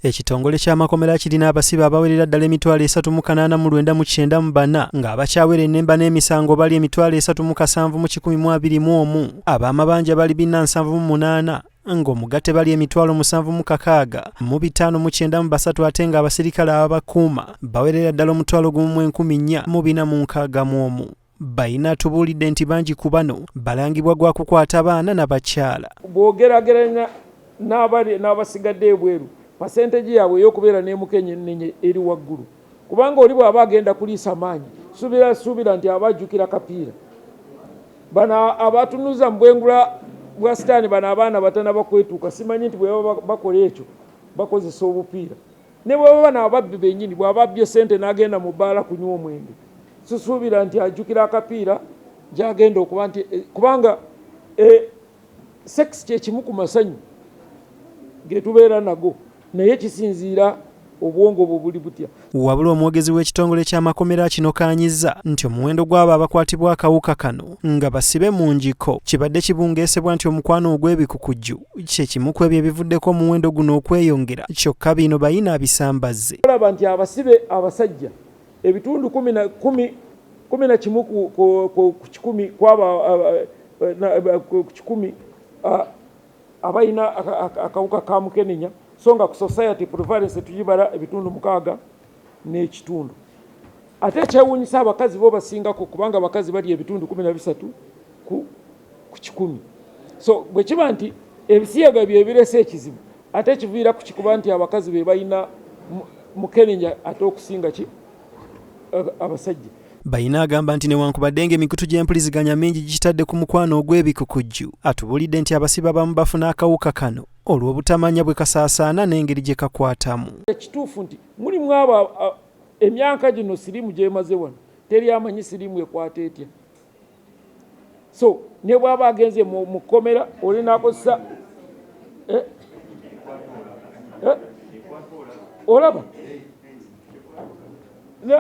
Ekitongole ky'amakomera kirina abasibe abawerera ddala emitwalo esatu mu kanaana mu lwenda mu kyenda mu bana ng'abakyawera ennemba n'emisango bali emitwalo esatu mu kasanvu mu kikumi mu abiri mu omu ab'amabanja bali bina nsanvu mu munaana ng'omugatte bali emitwalo musanvu mu kakaaga mu bitaano mu kyenda mu basatu ate ng'abaserikale ababakuuma bawerera ddala omutwalo gumu mu enkumi nnya mu bina mu nkaaga mu omu Bayina atubuulidde nti bangi ku bano balangibwa gwa kukwata baana na bakyala. Bw'ogerageranya n'abali n'abasigadde ebweru, pasenteegi yaabwe ey'okubeera n'emukenyennenye eri waggulu kubanga oli bw'aba agenda kuliisa maanyi suubira suubira nti aba ajjukira kapiira. Bano abatunuza mu bwengula bwa sitaani bano abaana batanaba kwetuuka simanyi nti bwe baba bakola ekyo bakozesa obupiira. Ne bwe baba na ababbi bennyini, bw'aba abbye ssente n'agenda mu bbaala kunywa omwenge, sisuubira nti ajjukira akapiira gy'agenda okuba nti kubanga e, sekisi kye kimu ku masanyu ge tubeera nago naye kisinziira obwongo bwo buli butya. Wabula omwogezi w'ekitongole ky'amakomera kino kaanyiza nti omuwendo gw'abo abakwatibwa akawuka kano nga basibe mu ngiko kibadde kibungeesebwa nti omukwano ogw'ebikukujju kyekimu ku ebyo ebivuddeko omuwendo guno okweyongera kyokka bino bayina abisambazze olaba nti abasibe abasajja ebitundu kumi na kimu ku kikumi kwaba ku kikumi abalina akawuka ka mukenenya so nga ku society prevalence tugibala ebitundu mukaaga n'ekitundu ate ekyewuunyisa abakazi bo basingako kubanga abakazi balya ebitundu kumi na bisatu ku kikumi so bwe kiba nti ebisiyaga byebirese ekizibu ate kiviira ku kikuba nti abakazi be balina mukenenya ate okusinga ki abasajja bayina agamba nti newankubadde nga emikutu gy'empuliziganya mingi gikitadde ku mukwano ogw'ebikukujju atubuulidde nti abasiba bamu bafuna akawuka kano olw'obutamanya bwe kasaasaana n'engeri gye kakwatamu. Ekituufu nti mulimu abo emyaka gino siriimu gyemaze wano teri amanyi siriimu ekwata etya so ne bwaba agenze mu kkomera oli nakozesa eh? Eh? olaba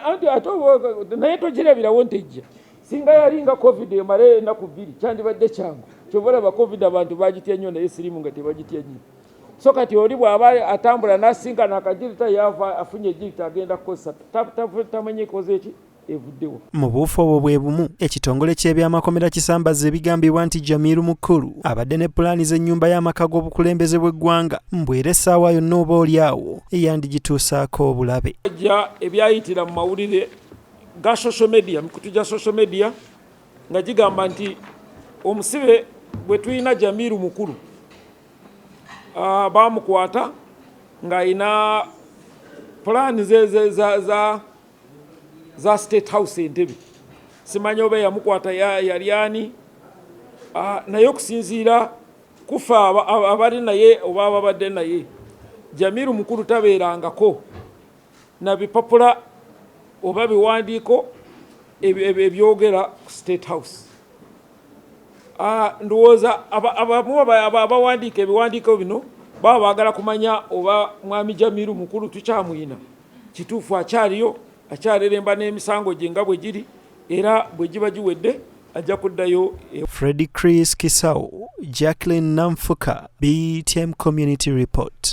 anti ate naye togirabirawo nti ejja Singa yalinga covid emalayo enaku bbiri kyandibadde kyangu kyova olaba covid abantu bagitya nnyo naye sirimu nga tebagitya nnyo so kati oli bw'aba atambula n'asinkana akagirita yaava afunye egirita agenda kukozesa tamanye ekoze eki evuddewo mu buufu obwo bwe bumu ekitongole ky'ebyamakomera kisambazza ebigambibwa nti jamiru mukulu abadde ne pulaani z'ennyumba y'amaka g'obukulembeze bw'eggwanga mbwera essaawa yonna oba oli awo eyandigituusaako obulabe ja ebyayitira mu mawulire ga social media mikutu gya social media nga gigamba nti omusibe bwe tulina Jamiru mukulu uh, bamukwata ng'alina pulaani ze za, za, za, za state house entebe simanyi oba yamukwata yali ani ah, naye okusinziira kufa abali naye oba ababadde naye jamiru mukulu tabeerangako na bipapula oba biwandiiko ebyogera ku state house ah, ndowooza abamu abawandiika ebiwandiiko bino baba baagala kumanya oba mwami jamiru mukulu tukyamuyina kituufu akyaliyo akyareremba n'emisango gye nga bwe giri era bwe giba giwedde ajja kuddayo e- fredi chris kisawo jacklin namfuka btm community report